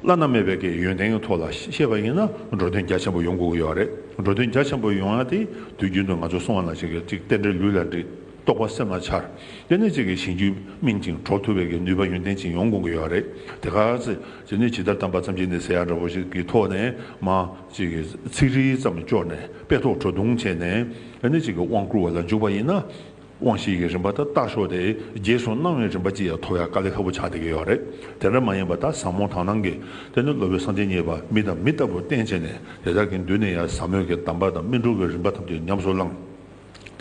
བླ་ན་མེད་པའི་གི་ཡོན་ཏན་གྱི་ཐོག་ལ་བཤད་པ་ཡིན་ན་འགྲོ་དོན་རྒྱ་ཆེན་པོ་ཡོང་དགོས་ཀྱི་ཡོད་རེད་འགྲོ་དོན་རྒྱ་ཆེན་པོ་ཡོང་ཡ་དེ་དུས་རྒྱུན་དུ་ང་ཚོ་སྲུང་བ་ན་ཅིག་གཅིག་བསྟེན་འབྲེལ་ལུས་ལ་འདྲིས་རྟོགས་པ་སེམས་ལ་འཆར་དེ་ནས་ཅིག་གིས་གཞན་རྒྱུད་སྨིན་ཅིང་གྲོགས་ཐུབ་པའི་གི་ནུས་པ་ཡོན་ཏན་ཅིག་ཡོང་དགོས་ཀྱི་ཡོད་རེད་དེ་ག་ཚེ་དེ་ནས་ཇི་ལྟར་གཏམ་པ་ཙམ་གྱིས་ནི་ཟེར་ཡ་འདྲ་བོ་ཞིག་གི་ཐོག་ནས་མ་ཅིག་གིས་ཚིག་རིས་ཙམ་བཅོག་ནས་དཔེ་ཐོག་བྲོ་བརྡུང་བྱས་ནས་དེ་ནས་ཅིག་གིས་དབང་བསྐུར་བ་ལ་འཇུག་པ་ཡིན་ན། དབང་ཤེས་ཀྱི་རིམ་པ་དག་ཏག་ཤོག་དེ་རྗེས་སུ་གནང་བའི་རིམ་པ་ཅི་ཡང་ཐོབ་ཡ་དཀའ་ལས་ཁ་བོ་ཆགས་དེ་གས་ཡོད་རེད་དེ་འདྲ་མ་ཡིན་པ་ད་ཟ་མོ་དག་ནང་གི་དེ་ནི་ལོ་བའི་སངས་རྒྱས་མཉེས་པ་མི་དང་མི་ལྟ་བུ་བསྟེན་བྱས་ནས་དེ་དག་གི་མདུན་ནས་ཡ་ཟ་མོ་གི་གདམས་པ་དང་སྨིན་དྲུག་གི་རིམ་པ་ཐམས་ཅད་ཉམས་སུ་བླངས།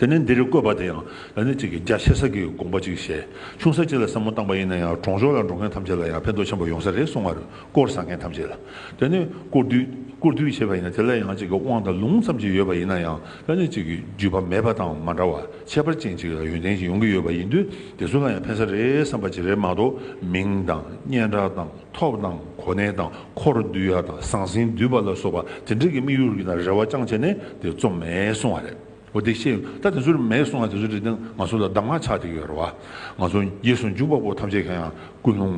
དེ་ནས་འདིར་བཀོད་པ་དེ་ཡང་ལ་ནི་གཅིག་གི་རྒྱ་ཆེ་ས་གི་དགོངས་པ་ཅིག་བཞེས་ཆུང་ས་གཅིག་ལ་ཟ་མོ་བཏང་པ་ཡིན་ན་ཡང་གྲོང་ཆོག་ལ་འགྲོ་མཁན་ཐམས་ཅད་ལ་ཡང་ཕན་ཐོག་ཆེན་པོ་ཡོང་ས་རེད་གསུང་བར་བསྐོར་ཟ་མཁན་ཐམས་ཅད་ལ་དེ་ནི་བསྐོར་བསྡུས་བྱས་པ་ཡིན་ན་དེ་ལ་ཡང་གཅིག་གི་དབང་དང་ལུང་ཙམ་གྱིས་ཡོད་པ་ཡིན་ན་ཡང་ལྷ་གནས་གཅིག་གི་བརྒྱུད་པ་མེད་པ་དང་མ་འདྲ་བར་ཁྱད་པར་ཅན་གཅིག་ལ་ཡོན་ཏན་གྱིས་ཡོང་གི་ཡོད་པ་ཡིན་དུས་དེ་ཚོ་ལ་ཡང་ཕན་ས་རེད་བསམ་པ་ཅི་རེད་མ་གཏོགས་མིང་དང་སྙན་གྲགས་དང་ཐོབ་དང་གོ་གནས་དང་འཁོར་བསྡུ་ཡ་དང་ཟང་ཟིང་བསྡུས་པ་ལ་སོགས་པ་དེ་འདྲས་ཀྱི་དམིགས་ཡུལ་གྱི་ན་རེ་བ་རྐྱང་བྱས་ནས་དེ་རྩོམ་མེད་སོང་བ་རེད་འོ་དེ་ཤེས་ཡོང་ད་དེ་ཚོ་རེ་མེད་སོང་བ་དེ་ཚོ་རེ་ཏན་ང་ཚོ་ལ་གདམ་ངག་ཆགས་བསྡད་ཀྱི་ཡོད་རེད་བ་ང་ཚོ་རྗེས་སུ་འཇུག་པ་པོ་ཐམས་ཅད་གང་ཡང་ཀུན་སློང་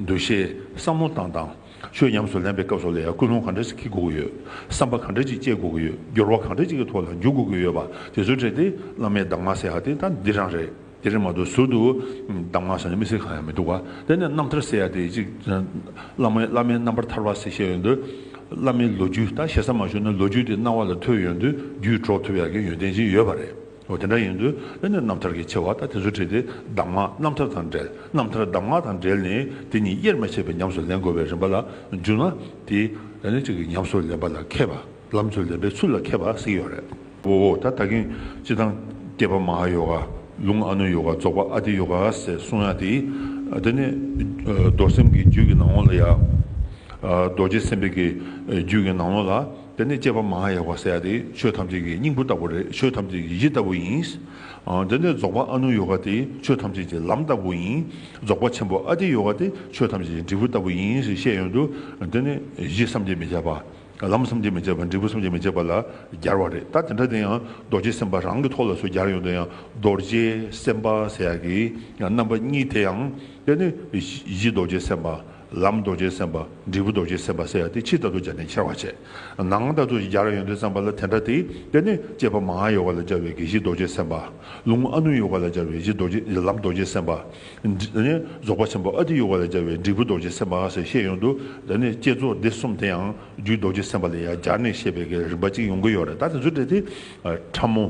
འདུ་ཤེས་བསམ་བློ་བཏང་དང། ཆོས་ཉམས་སུ་ལེན་པའི་སྐབས་སོགས་ལ་ཡང་ཀུན་སློང་གང་འདྲ་ཞིག་བགྱིད་དགོས་ཀྱི་ཡོད། བསམ་པ་གང་འདྲ་ཅིག་སྐྱེ་དགོས་ཀྱི་ཡོད། སྦྱོར་བ་གང་འདྲ་ཅིག་གི་ཐོག་ལ་འཇུག་དགོས་ཀྱི་ཡོད་པ་དེ་ཚོའི་གྲས་དེ་བླ་མའི་གདམས་ངག་ཟེར་ཡ་དེ་ད་འདི་རང་རེད། དེ་རེད་མ་གཏོགས་ཟུར་དུ་གདམས་ངག་ཟེར་ནས་མི་ཟེར་གང་ཡང་མི་འདུག་ག་དེ་ནས་རྣམ་ཐར་ཟེར་ཡ་དེ་ཅིག་བླ་མའི་བླ་མའི་རྣམ་པར་ཐར་བ་ཟེར་བཤད་ཡོད་དུས། བླ་མའི་ལོ་རྒྱུས་ད་ཞེ་ས་མ་ཞུ་ན་ལོ་རྒྱུས་དེ་སྣང་བ་ལ་ཐོས་ཡོད་དུས་རྒྱུད་སྒྲོག་ཐུབ་ཡ་གི་ཡོན་ཏན་ཅིག་ཡོད་པ་རེད། འོ་དེ་འདྲ་ཡིན་དུས་ཨེ་ནས་རྣམ་ཐར་གྱི་ཆེ་བ་ལྟ་དེ་ཚོ་བྲིས་ཏེ་གདམས་ངག་རྣམ་ཐར་དང་འབྲེལ་རྣམ་ཐར་གདམས་ངག་དང་འབྲེལ་ནི་དེ་གཉིས་དབྱེར་མ་ཕྱེད་པའི་ཉམས་སུ་ལེན་དགོས་པའི་རིམ་པ་ལ་འཇུག་ན་དེ་ཨེ་ནས་གཅིག་གི་ཉམས་སུ་ལེན་པ་ལ་མཁས་པ་ལམ་དུ་ལེན་པའི་ཚུལ་ལ་མཁས་པ་ཟིག་ཡོད་རེད། འོ་འོ་ད་ད་གིན་སྤྱི་དང་སྐྱེས་པ་མ་ཧཱ་ཡོ་ག་ལུང་ཨ་ནུ་ཡོ་ག་རྫོགས་པ་ཨ་ཏི་ཡོ་ག་ཟེར་གསུང་ཡ་དེ་དེ་ནི་རྡོར་སེམས་ཀྱི་རྒྱུད་ཀྱི་ནང་ལོགས་ལ་ཡ། རྡོ་རྗེ་སེམས་དཔའི་རྒྱུད་ཀྱི་ནང་ལོགས་ལ། དེ་ནི་སྐྱེས་པ་མ་ཧཱ་ཡ་བ་སཱ་ཡ་སྟེ་ཆོས་ཐམས་ཅད་ཀྱི་སྙིང་པོ་ལྟ་བུ་རེད་ཆོས་ཐམས་ཅད་ཀྱི་གཞི་ལྟ་བུ་ཡིན། དེ་ནི་རྫོགས་པ་ཨ་ནུ་ཡོ་ག་སྟེ་ཆོས་ཐམས་ཅད་ཀྱི་ལམ་ལྟ་བུ་ཡིན། རྫོགས་པ་ཆེན་པོ་ཨ་ཏི་ཡོ་ག་སྟེ་ཆོས་ཐམས་ཅད་ཀྱི་འབྲས་བུ་ལྟ་བུ་ཡིན་ཞེས་བཤད་ཡོད་དོ། དེ་ནི་གཞི་བསམ་གྱིས་མི་ཁྱབ་པ། ལམ་བསམ་གྱིས་མི་ཁྱབ་པ་འབྲས་བུ་བསམ་གྱིས་མི་ཁྱབ་པ་ལ་སྦྱར་བ་རེད་ད་དེ་འདྲ་དེ་ཡང་རྡོ་རྗེ་སེམས་དཔའ་རང་གི་ཐོག་ལ་སུས་སྦྱར་ཡོད་དེ་ཡང་རྡོ་རྗེ་སེམས་དཔའ་སེ་ཡ་གི་རྣམ་པ་གཉིས་དེ་ཡང་དེ་ནི་གཞི་རྡོ་རྗེ་སེམས་དཔའ། ལམ་རྡོ་རྗེ་སེམས་དཔའ་འབྲས་བུ་རྡོ་རྗེ་སེམས་དཔའ་སེ་ཡ་དེ་ཕྱི་ལྟ་ཏུ་སྦྱར་ནས་ཁྱེར་བར་བྱེད། ནང་ལྟ་ཏུ་སྦྱར་བ་ཡོན་ཏན་བསམ་པ་ལ་དེ་འདྲ་སྟེ། དེ་ནི་སྐྱེས་པ་མ་ཧཱ་ཡོ་ག་ལ་སྦྱར་བའི་གེགས་བཞི་རྡོ་རྗེ་སེམས་དཔའ། ལུང་ཨ་ནུ་ཡོ་ག་ལ་སྦྱར་བའི་གཞི་རྡོ་རྗེ་ལམ་རྡོ་རྗེ་སེམས་དཔའ། རྫོགས་པ་ཆེན་པོ་ཨ་ཏི་ཡོ་ག་ལ་སྦྱར་བའི་འབྲས་བུ་རྡོ་རྗེ་སེམས་དཔའ་ཞེས་བཤད་ཡོད་འདུག་དེ་ནི་བསྐྱེད་རྫོགས་སྡེ་གསུམ་དེ་ཡང་རྒྱུད་རྡོ་རྗེ་སེམས་དཔའ་ལ་ཡང་སྦྱར་ནས་བཤད་པའི་གེགས་རིམ་པ་གཅིག་ཡོང་གི་ཡོད་རེད་ད་དེ་ཚོའི་གྲས་དེ། ཕྲ་མོ།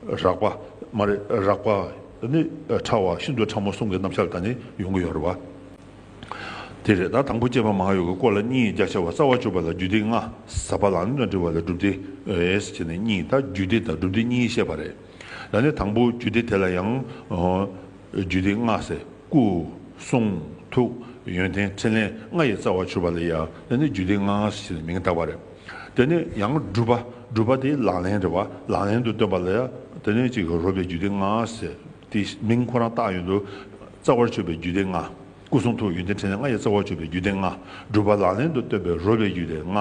རགས་པ། མ་རེད་རགས་པ། ནི་ཕྲ་བ་ཤིན་ཏུ་ཕྲ་མོ་གསུམ་གྱི་རྣམ་གཞག་དག་ནི་ཡོང་གི་ཡོད་རེད་བ། དེ་རེད་ད་དང་པོ་སྐྱེས་པ་མ་ཡོ་གའི་སྐོར་ལ་གཉིས་རྒྱ་ཆེ་བ་རྩ་བ་བཅུ་པ་ལ་རྒྱུད་སྡེ་ལྔ་ཟབ་པ་ལ་ནི་འདྲི་བ་ལ་སྒྲུབ་སྡེ་ཨེས་བྱས་ནས་གཉིས་དང་རྒྱུད་སྡེ་དང་སྒྲུབ་སྡེ་གཉིས་བཤད་པ་རེད་ད་ནི་དང་པོ་རྒྱུད་སྡེ་དེ་ལ་ཡང་རྒྱུད་སྡེ་ལྔ་ཟེར་སྐུ་གསུང་ཐུགས་ཡོན་ཏན་ཕྲིན་ལས་ལྔ་ཡི་རྩ་བ་བཅུ་པ་ལ་ཡ་ད་ནི་རྒྱུད་སྡེ་ལྔ་ཨེས་བྱས་ནས་མིང་བཏགས་པ་རེད་ད་ནི་ཡང་སྒྲུབ་པ་སྒྲུབ་པ་དེ་ལག་ལེན་རེད་བ་ལག་ལེན་དུ་སྟོན་པ་ལ་ཡ་ད་ནི་གཅིག་རོལ་པའི་རྒྱུད་སྡེ་ལྔ་ཨེས་དེ་མིང་ཁོ་རང་བཏགས་ཡོད་འདུག། རྩ་བར་ཆོད་པའི་རྒྱུད་སྡེ་ལྔ། སྐུ་གསུང་ཐུགས་ཡོན་ཏན་ཕྲིན་ལས་ལྔ་ཡི་རྩ་བར་ཆོད་པའི་རྒྱུད་སྡེ་ལྔ། སྒྲུབ་པ་ལག་ལེན་དུ་སྟོན་པའི་རོལ་བའི་རྒྱུད་སྡེ་ལྔ།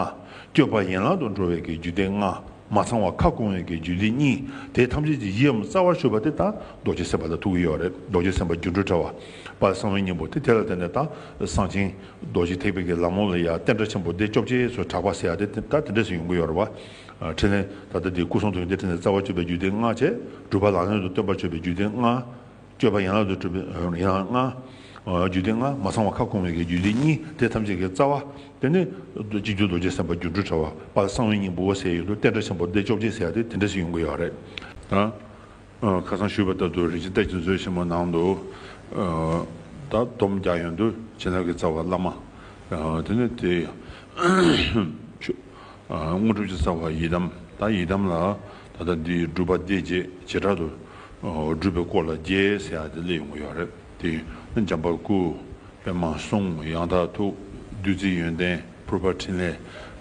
བསྐྱོད་པ་ཡན་ལག་ཏུ་འགྲོ་བའི་གྱི་རྒྱུད་སྡེ་ལྔ། མ་ཚང་བ་ཁ་སྐོང་བའི་གྱི་རྒྱུད་སྡེ་གཉིས། དེ་ཐམས་ཅད་ཀྱི་ཡིའམ་རྩ་བར་ཆོད་པ་སྟེ་དང་རྡོ་རྗེ་སེམས་དཔའ་ལ་ཐུག་གི་ཡོད་རེད་རྡོ་རྗེ་སེམས་དཔའ་སྒྱུ་འཕྲུལ་དྲ་བ། པདྨ་གསང་བའི་སྙིང་པོ་སྟེ་དེ་ལ་བརྟེན་ནས་དང་གསང་ཆེན། རྡོ་རྗེ་ཐེག་པའི་གྱི་ལམ་ལོང་ལ་ཡང་བསྟན་དགྲ་ཆེན་པོ་སྟེ་བཅོ་བརྒྱད་སོགས་གྲགས་པ་ཟེར་ཡ་དེ་ད་དེ་འདྲས་སུ་ཡོང་གི་ཡོད་རེད་བ། ཕྲིན་ལས། ད་ལྟ་འདིར་སྐུ་གསུང་ཐུགས་ཡོན་ཏན་ཕྲིན་ལས་རྩ་བ་གཅོད་པའི་རྒྱུད་སྡེ་ལྔ་བཅས་སྒྲུབ་པ་ལག་ལེན་དུ་སྟོན་པར་གཅོད་པའི་རྒྱུད་སྡེ་ལྔ། གཅོད་པ་ཡན་ལག་ཏུ་སྒྲུབ་པའི་ཡན་ལག་ལྔ། རྒྱུད་སྡེ་ལྔ་མ་ཚང་བ་ཁ་སྐོང་བའི་རྒྱུད་སྡེ་གཉིས་དེ་ཐམས་ཅད་ཀྱི་རྩ་བ། དེ་ནས་སྤྱི་རྒྱུད་རྡོ་རྗེ་སེམས་དཔའ་སྒྱུ་འཕྲུལ་དྲྭ་བ་པ་གསང་བའི་སྙིང་པོ་འོད་གསལ་ཡུལ་དུ་བསྟན་དགྲ་ཆེན་པོ་སྡེ་བཅོ་བརྒྱད་བྱས་ཏེ་དེ་འདྲ་ཞིག་ཡོང་གི་ཡོད་རེད། ཁ་སང་ཞུས་པ་ལྟར་དུ་རིག་བྱེད་ལྟ་ཅི་མཛོད་ཆེན་མོ་ནང་དུ། བདག་སྡོམ་རྒྱ་ཡོན་དུ་བྱིན་རླབས་ཀྱི་རྩ་བ་བླ་མ། དེ་ནས་དེ། དངོས་གྲུབ་ཀྱི་རྩ་བ་ཡི་དམ་དང་ཡི་དམ་ལ་ད་ལྟ་འདི་སྒྲུབ་པ་འདི་བྱེད་བྱེ་བྲག་ཏུ། སྒྲུབ་པའི་སྐོར་ལ་རྒྱས་ཟེར་ཡག་དེ་སླེབས་ཡོང་གི་ཡོད་རེད་དེ། འཇམ་པ་སྐུ། པདྨ་གསུང། ཡང་དག་ཐུགས། བདུད་རྩིའི་ཡོན་ཏན། ཕུར་པ་ཕྲིན་ལས་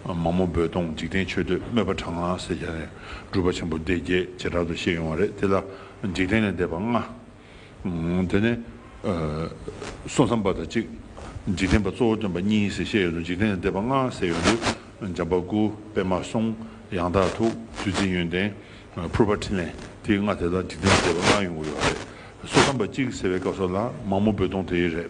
མ་མོ་རྦོད་གཏོང་འཇིག་རྟེན་མཆོད་བསྟོད་དམོད་པ་དྲག་སྔགས་བསད་རྒྱ་ནས་སྒྲུབ་པ་ཆེན་པོ་སྡེ་བརྒྱད་བྱེ་བྲག་ཏུ་བཤད་ཡོང་བ་རེད་དེ་ལ་འཇིག་རྟེན་ལས་འདས་པ་ལྔ། དེ་ནས་སོ་མཚམས་པ་དང་གཅིག། འཇིག་རྟེན་པ་གཙོ་བོ་སྟོན་པ་གཉིས་ཞེས་བཤད་ཡོད་དོ་འཇིག་རྟེན་ལས་འདས་པ་ལྔ་བསད་ཡོད་འདུག་འཇམ་པ་སྐུ་པད་མ་གསུང་ཡང་དག་ཐུགས་བརྩེ་འཛིན་ཡོན་ཏན་ཕུར་པ་ཕྲིན་ལས་དེ་ལྔ་དེ་ལ་འཇིག་རྟེན་ལས་འདས་པ་ལྔ་ཡོང་གི་ཡོད་རེད། སོ་མཚམས་པ་གཅིག་ཟེར་བའི་སྐབས་སོགས་ལ་མ་མོ་རྦོད་གཏོང་དེ་རེད།